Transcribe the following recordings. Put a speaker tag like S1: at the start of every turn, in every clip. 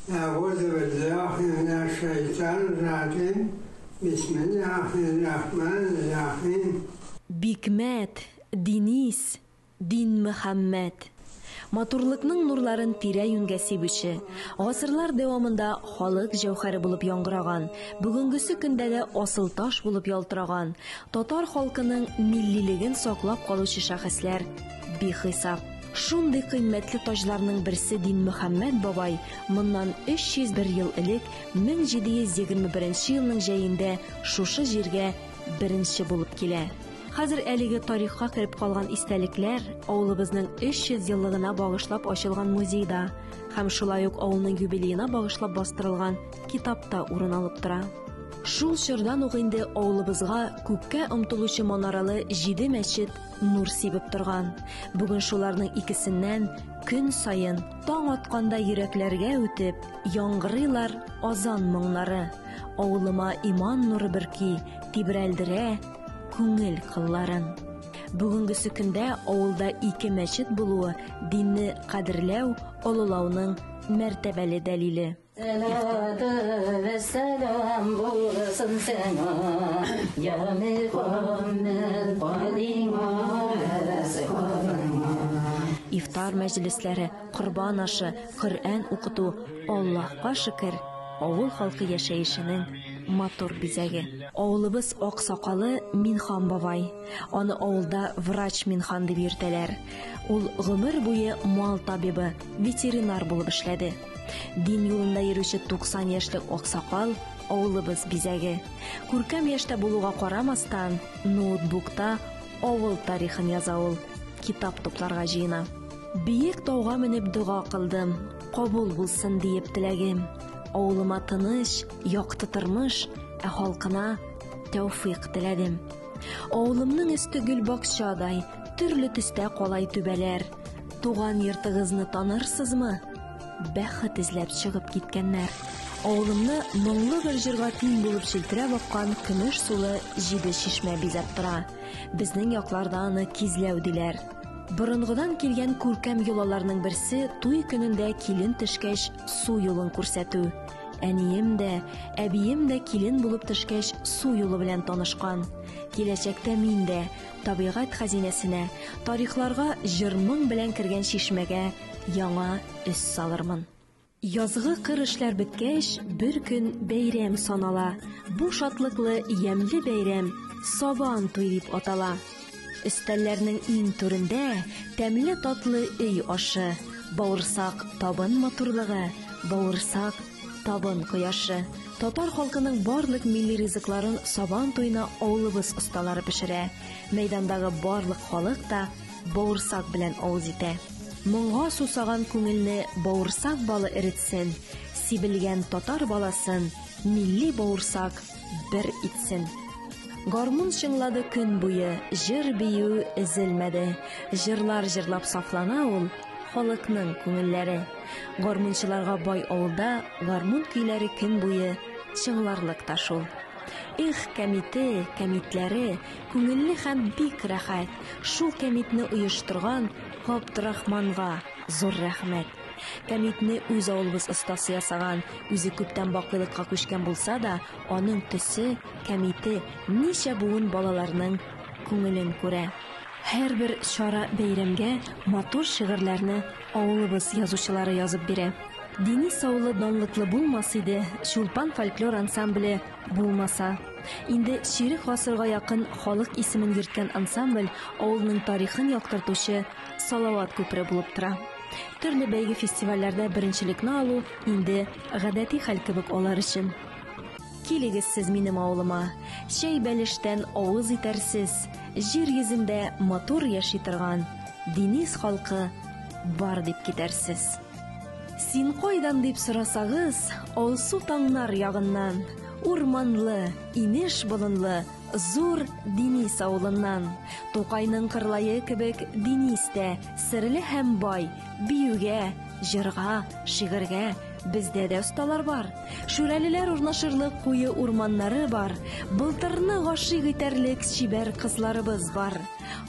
S1: Әгузубеллахи минәшшәйтанрраҗим, бисмиллаһиррахманиррахим. Бикмәт,
S2: Динис, Динмөхәммәт. Матурлыкның нурларын тирә-юньгә сибүче, гасырлар дәвамында халык җәүһәре булып яңгыраган, бүгенгесе көндә дә асылташ булып ялтыраган, татар халкының миллилеген саклап калучы шәхесләр бихисап. Шундый кыйммәтле таҗларның берсе Динмөхәммәт бабай моннан 301 ел элек, 1721 елның җәендә шушы җиргә беренче булып килә. Хәзер әлеге тарихка кереп калган истәлекләр авылыбызның 300 еллыгына багышлап ачылган музейда һәм шулай ук авылның юбилеена багышлап бастырылган китапта урын алып тора. Шул чордан ук инде авылыбызга күккә омтылучы манаралы җиде мәчет, нур сибеп торган. Бүген шуларның икесеннән көн саен таң атканда йөрәкләргә үтеп, яңгырыйлар азан моңнары. Авылыма иман нуры бөрки, тибрәлдерә күңел кылларын. Бүгенге сөкендә авылда ике мәчет булуы динне кадерләү, олылауның мәртәбәле дәлиле. Сәлату вәссәлам
S3: булсын сиңа, я Мөхәммәд, кадиңа сихатыңа.
S2: Ифтар мәҗлесләре, корбан ашы, Коръән укыту, Аллаһка шөкер, авыл халкы яшәешенең матур бизәге. Авылыбыз аксакалы Минхан бабай. Аны авылда врач Минхан дип йөртәләр. Ул гомер буе мал табибы, ветеринар булып эшләде. Дин юлында йөрүче 90 яшьлек аксакал, авылыбыз бизәге. Күркәм яшьтә булуга карамастан, ноутбукта авыл тарихын яза ул, китап тупларга җыена. Биек тауга менеп дога кылдым, кабул булсын диеп теләгем. Авылыма тыныч, якты тормыш, ә халкына тәүфыйк теләдем. Авылымның өсте гөл бакчадай, төрле төстә калай түбәләр. Туган йортыгызны танырсызмы? Бәхет эзләп чыгып киткәннәр. Авылымны моңлы бер җырга тиң булып челтерәп аккан көмеш сулы җиде чишмә бизәп тора. Безнең якларда аны кизләү диләр. Борынгыдан килгән күркәм йолаларның берсе туй көнендә килен төшкәч су юлын күрсәтү. Әнием дә, әбием дә килен булып төшкәч су юлы белән танышкан. Киләчәктә мин дә табигать хәзинәсенә, тарихларга җыр-моң белән кергән чишмәгә яңа өс салырмын. Язгы кыр эшләр беткәч, бер көн бәйрәм санала. Бу шатлыклы ямьле бәйрәм Сабан туй дип атала. Өстәлләрнең иң түрендә тәмле татлы өй ашы, бавырсак табын матурлыгы, бавырсак табын кояшы. Татар халкының барлык милли ризыкларын Сабан туена авылыбыз осталары пешерә. Мәйдандагы барлык халык та Бавырсак белән авыз итә. Моңга сусаган күңелне бавырсак балы эретсен, сибелгән татар баласын милли бавырсак бер итсен. Гармун чыңлады көн буе, җыр-бию өзелмәде. Җырлар җырлап сафлана ул халыкның күңелләре. Гармунчыларга бай авылда гармун көйләре көн буе чыңларлык та шул. Эх, кәмите, кәмитләре, Күңелле һәм бик рәхәт! Шул кәмитне оештырган Габдрахманга зур рәхмәт! Кәмитне үз авылыбыз остасы ясаган, үзе күптән бакыйлыкка күчкән булса да, аның төсе, кәмите ничә буын балаларның күңелен күрә. Һәрбер чара бәйрәмгә матур шигырьләрне авылыбыз язучылары язып бирә. Динис авылы данлыклы булмас иде, Чулпан фольклор ансамбле Булмаса. Инде чирек гасырга якын халык исемен йөрткән ансамбль авылның тарихын яктыртучы Салават күпере булып тора. Төрле бәйге-фестивальләрдә беренчелекне алу инде гадәти хәл кебек алар өчен. Килегез сез минем авылыма, чәй бәлештән авыз итәрсез, җир йөзендә матур яши торган Динис халкы бар дип китәрсез. Син кайдан дип сорасагыз, алсу таңнар ягыннан, урманлы, инеш болынлы, зур Денис авылыннан. Тукайның кырлае кебек Денис тә серле һәм бай, биюгә, җырга, шигырьгә, Бездә дә осталар бар. Шүрәлеләр урнашырлык куе урманнары бар. Былтырны гашыйк итәрлек чибәр кызларыбыз бар.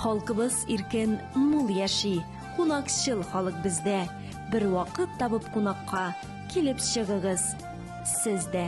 S2: Халкыбыз иркен, мул яши. Кунакчыл халык бездә. Бер вакыт табып кунакка килеп чыгыгыз сез дә.